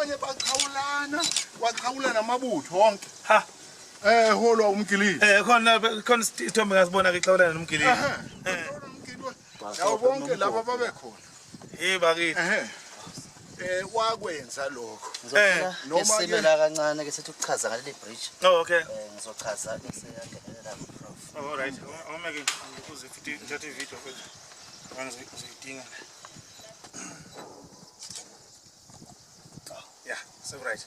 onye baqhawulana waqhawula namabutho wonke ha eh holwa umgilile eh khona khona isithombe ngasibona ke xhawulana nomgilile eh yawo bonke laba babe khona hey bakithi eh eh wakwenza lokho eh, noma isimela kancane ke sithi ukuchaza ngaleli bridge oh okay eh, ngizochaza bese yangenelela prof all right uma ke ukuze futhi ngithathe video Uzoyidinga la. Oh, yeah, so right.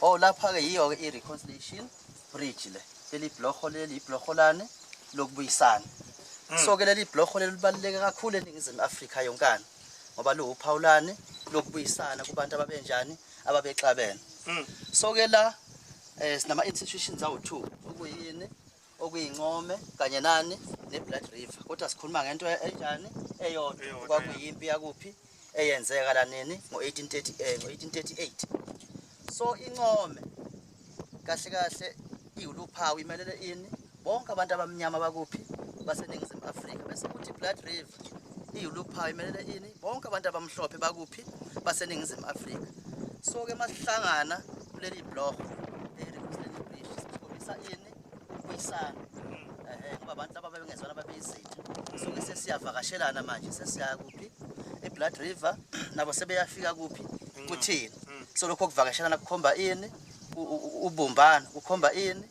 Oh lapha ke yiyo ke i-reconciliation bridge le. Leli blokho leli iblokolane lokubuyisana. Hmm. So ke leli blokho leli libaluleke kakhulu eNingizimu Afrika yonkana ngoba luwuphawulane lokubuyisana kubantu ababenjani ababexabene. Hmm. So ke la eh sinama institutions awu2 okuyini okuyincome kanye nani neblood river kodwa sikhuluma ngento e-, enjani eyodwa kwakuyimpi yakuphi eyenzeka la nini ngo-1838 ngo-1838 so income kahle kahle iwuluphawu imelele ini bonke abantu abamnyama bakuphi baseningizimu afrika bese kuthi blood river iwuluphawu imelele ini bonke abantu abamhlophe bakuphi baseningizimu afrika so-ke masihlangana kuleli blog elisikhombisa ini ukubuyisana ehe ngoba abantu laba bebengezwana babeyizitha sonke sesiyavakashelana manje sesiya kuphi eblood river nabo sebeyafika kuphi kuthini so lokho kuvakashelana kukhomba ini U- u- u- ubumbano kukhomba ini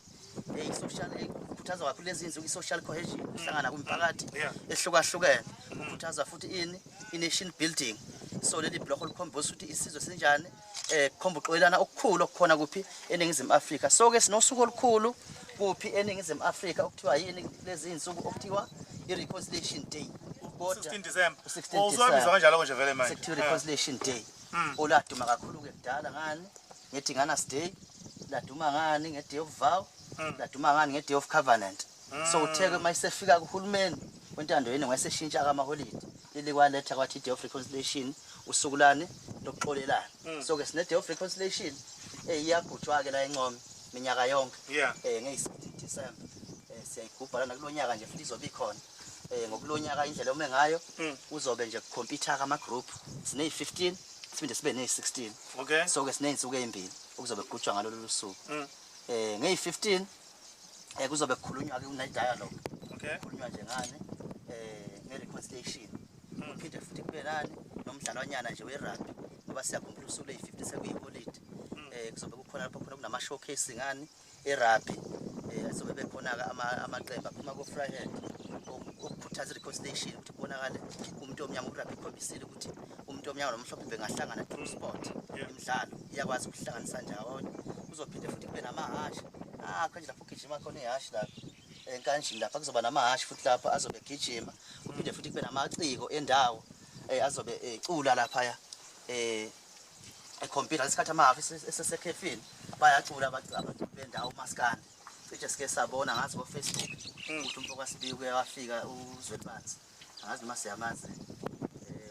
eyi social eyi, kukhuthaza kakhulu lezi nsuku i-social cohesion kuhlangana kumphakathi Yeah. ehlukahlukene kukhuthaza futhi ini i-nation building so leli blokho likhomba ukuthi isizwe sinjani eh khomba uxolelana okukhulu okukhona kuphi eningizimu Afrika so ke sinosuku olukhulu kuphi eningizimu Afrika okuthiwa yini lezi insuku okuthiwa i reconciliation day kodwa 16 December usuhambisa kanjalo konje vele manje sekuthiwa eh. reconciliation day hmm. oladuma kakhulu ke kudala ngani ngethi ngana stay laduma ngani nge day of vow hmm. laduma ngani nge day of covenant so utheke uma isefika kuhulumeni wentando yenu wayeseshintsha kamaholidi leli kwaletha kwathi i-day of reconciliation usuku lani lokuxolelana mm. so-ke sine-day of reconciliation eyi iyagujwa-ke la encome minyaka yonke um eh, ngeyisidi december um eh, siyayigubha lana kulo nyaka nje futhi izobe ikhona um ngokulo nyaka indlela ome ngayo mm. kuzobe nje kukhompyutha-ke ama-group sineyi-fifteen siphinde sibe neyi-sixteen so-ke sineyinsuku eyimbili okuzobe kugujwa ngalolu lusuku um mm. eh, ngeyi-fifteen eh kuzobe kukhulunywa ke une dialogue okay kukhulunywa nje ngani eh nge reconciliation hmm. uphinde futhi kube nani nomdlalwanyana nje we rugby ngoba siyakhumbula usuku lay 50 sekuyi holiday hmm. eh kuzobe kukhona lapho khona kunama showcase ngani e rugby eh sobe bekhona ke ama amaqembu aphuma ko Fryhead ukukhuthaza reconciliation ukuthi kubonakale umuntu omnyama urugby ikhombisile ukuthi umuntu omnyama nomhlophe bengahlangana true sport imidlalo iyakwazi ukuhlanganisa njawonye kuzophinde futhi kube namahasha Ah, konje lapho ugijima khona ihashi lapho. Enkanjini lapha kuzoba namahashi futhi lapha azobe egijima. Kuphinde futhi kube namaciko endawo eh azobe ecula lapha ya. Eh ekhompila isikhathi amahafi esesekhefini bayacula abacula abantu bendawo umaskandi. Cishe sike sabona ngazi ko Facebook ukuthi umfo kwaSibiya uyawafika uzwelibanzi. angazi noma siyamazi eh,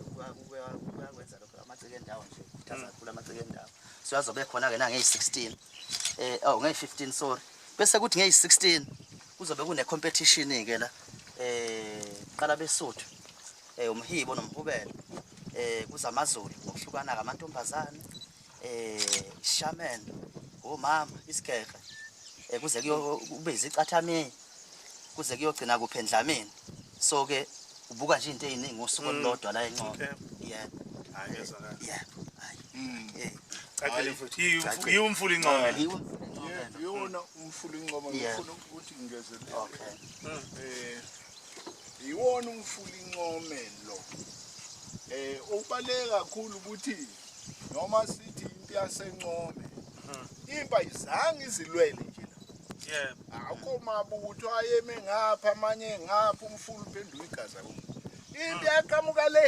kuyakwenza lokho amaciko endawo nje khuthaza mm. kakhulu amaciko endawo so azobe khona-ke nangeyi-16 um eh, oh, ngeyi-15 sorry bese kuthi ngeyi-16 kuzobe kune-competition-ke la um qala besuthu um umhibo nomhubelo um kuzamazulu ngokuhlukana-ke amantombazane eh shaman umama oh, isigeqe eh, kuze kuyobiza icathamiya kuze kuyogcina kuphi endlamini so ke ubuka nje into eziningi ngosuku mm. olulodwa la encono yeah hayi ngezwa kahle yeah hayi mm. eh. cacile futhi yiwumfula incomo yiwona umfula incomo ngifuna ukuthi ngingezelele okay mm. eh yiwona umfula incomo lo eh ubale kakhulu ukuthi noma sithi impi yasencome impa izange izilwele nje yebo akho mabutho ayeme ngapha amanye ngapha umfulu uphendula igaza ku impi yaqhamuka le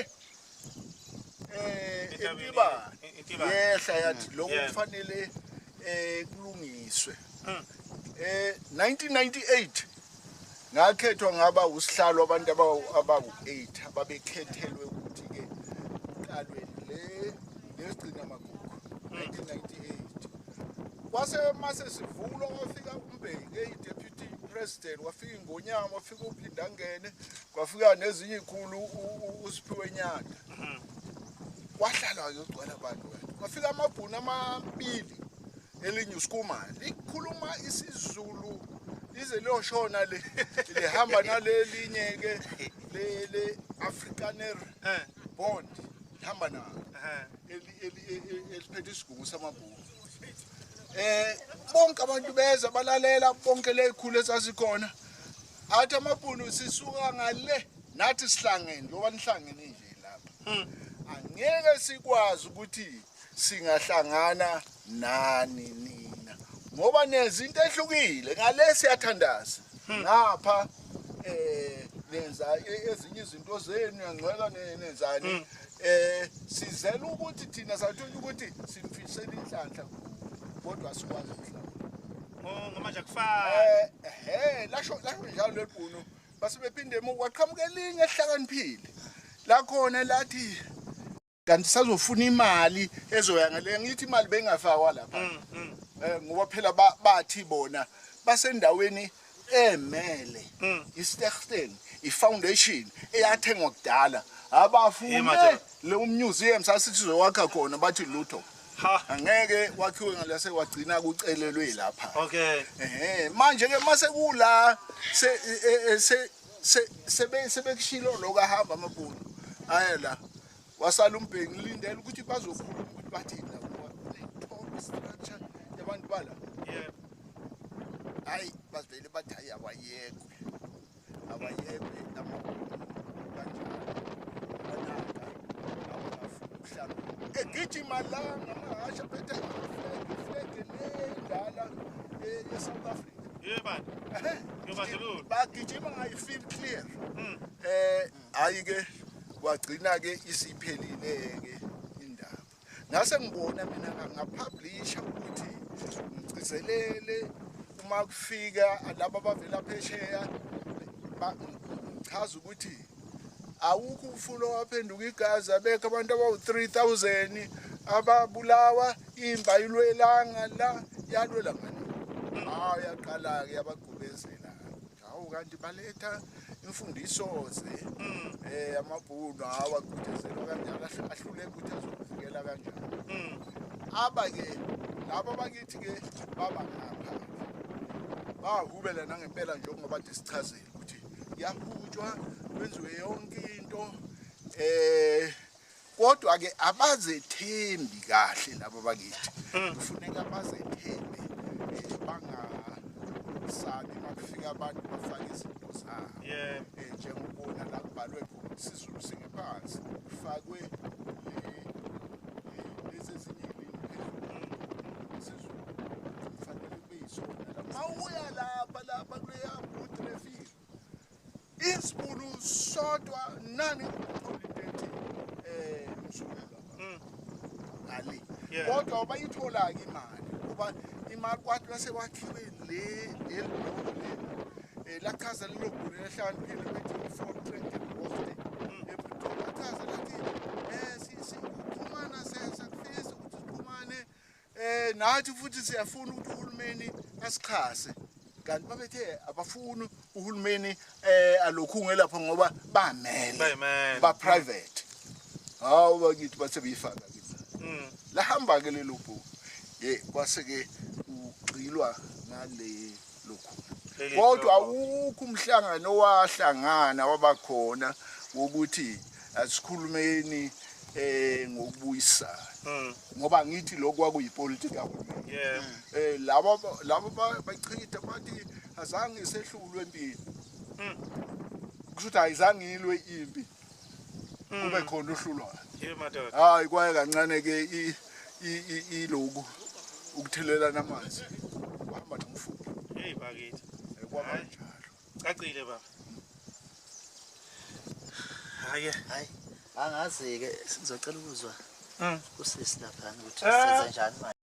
eh impiba yehla yathi lokho kufanele eh kulungiswe hmm. eh 1998 Ngakhethwa ngaba usihlalo abantu abawu-8 ababekhethelwe ukuthi-ke kuqalwe le lesigcina magugu 1998 kwase mase sivulwa kwafika umbheki eyi-deputy president wafika ingonyama wafika uphindangene kwafika nezinye ikhulu usiphiwe nyanda kwahlala-ke ugcwala abantu wena kwafika amabhuni amabili elinye uskuma likhuluma isizulu lize liyoshona le lihamba nalelinye ke le le afrikaner eh. bond lihamba na eh. eliphethe isigungu samabhuku eh bonke abantu beza balalela bonke lezikhulu ezazikhona athi amabhunu sisuka ngale nathi sihlangene ngoba nihlangene nje lapha hmm. angeke sikwazi ukuthi singahlangana nani nina ngoba nenza into ehlukile ngale siyathandaza hmm. ngapha eh nenza e-, ezinye izinto zenu yangcweka nenzani hmm. eh sizela ukuthi thina sathola ukuthi simfisela inhlanhla kodwa sikwazi mhlawumbe oh, ngomanje akufani eh ehe lasho lasho njalo lebhunu base bephinde emuva waqhamuka elinye ehlakaniphile lakhona lathi kanti sazofuna imali ezoya ngale ngithi imali bengafakwa lapha mm, mm. Eh, ngoba phela bathi bona basendaweni emele mm. istersten ifoundation eyathengwa kudala abafune le museum sasithi zokwakha khona bathi lutho angeke wakhiwe ngalase wagcina kucelelwe lapha okay ehe manje ke mase kula se e, e, sebe sebekushilo lokho ahamba amabhunu aye la wasala umbheki ngilindele ukuthi bazokhuluma ukuthi bathini la ngoba structure yabantu bala yebo hayi bazivele bathi hayi awayekwe awayekwe amabhunu kanjalo banaka awafuna ukuhlala egijima la ngamahasha phethe iflege iflege lendala e-south africa bagijima ngayifeel clear um hhayi-ke kwagcina-ke isiphelile-ke indaba ngase ngibona mina ngapublisha ukuthi ngigcizelele uma kufika laba abavela phesheya ngichaza ukuthi awukho umfula owaphenduka igazi abekho abantu abawu-3000 ababulawa imba ilwelanga la yalwela ngani hawu yaqala-ke yabagubezela hawu kanti baletha imfundiso-ze um amabhunu hawu agudezelwa kanjalo ahluleka ukuthi azokuvikela kanjalo mm. aba-ke laba bakithi-ke baba ngapha bahubela nangempela njengoba de sichazile ukuthi yahutshwa kwenziwe yonke into eh kodwa ke abazethembi kahle labo bakithi hmm. kufuneka bazethembe eh, bangasabi makufika abantu bafake izinto zabo eh, njengokubona la kubhalwe khona sizulu singephansi kufakwe mawuya lapha lapha kuleya booth refile isibulu sodwa nani uqolideti eh msukela mm. ali kodwa bayithola ke imali kuba imali kwathi bese kwakhiwe le elibhoko le eh, lachaza lelo bhulu lehlaniphile bethi u-four trend and wafting mm. epretoria lachaza lathi um eh, sikhumana sesakufisa ukuthi sikhumane Eh nathi futhi siyafuna ukuthi uhulumeni asixhase kanti babethe abafuni uhulumeni eh alokhunge lapho ngoba bamele ba private hawu bakithi bathe beyifaka kithi mm. lahamba ke lelo bhuku ye kwase ke ugxilwa ngale lukhulu kodwa awukho umhlangano owahlangana wabakhona wokuthi asikhulumeni eh ngokubuyisana hmm. ngoba ngithi lokho kwakuyipolitiki kahulumeni eh labo labo bachitha bathi azange sehlulwe empini hmm. kusho ukuthi ayizange ilwe impi kube mm. khona uhlulwayo hayi kwaye kancane ke iloku ukuthelelana amanzi uhamba nomfundi hey bakithi eh, kwaba njalo cacile baba hayi hayi angazi ke sizocela ukuzwa mm. kusisi lapha ukuthi eh. senza njani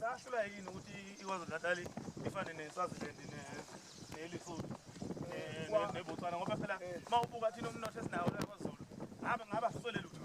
Sahlula yini ukuthi iKwaZulu Natal ifane neSwaziland neLesotho neBotswana ngoba phela eh. uma ubuka thina umnotho esinawo la kwaZulu ngabe ngaba siswele lutho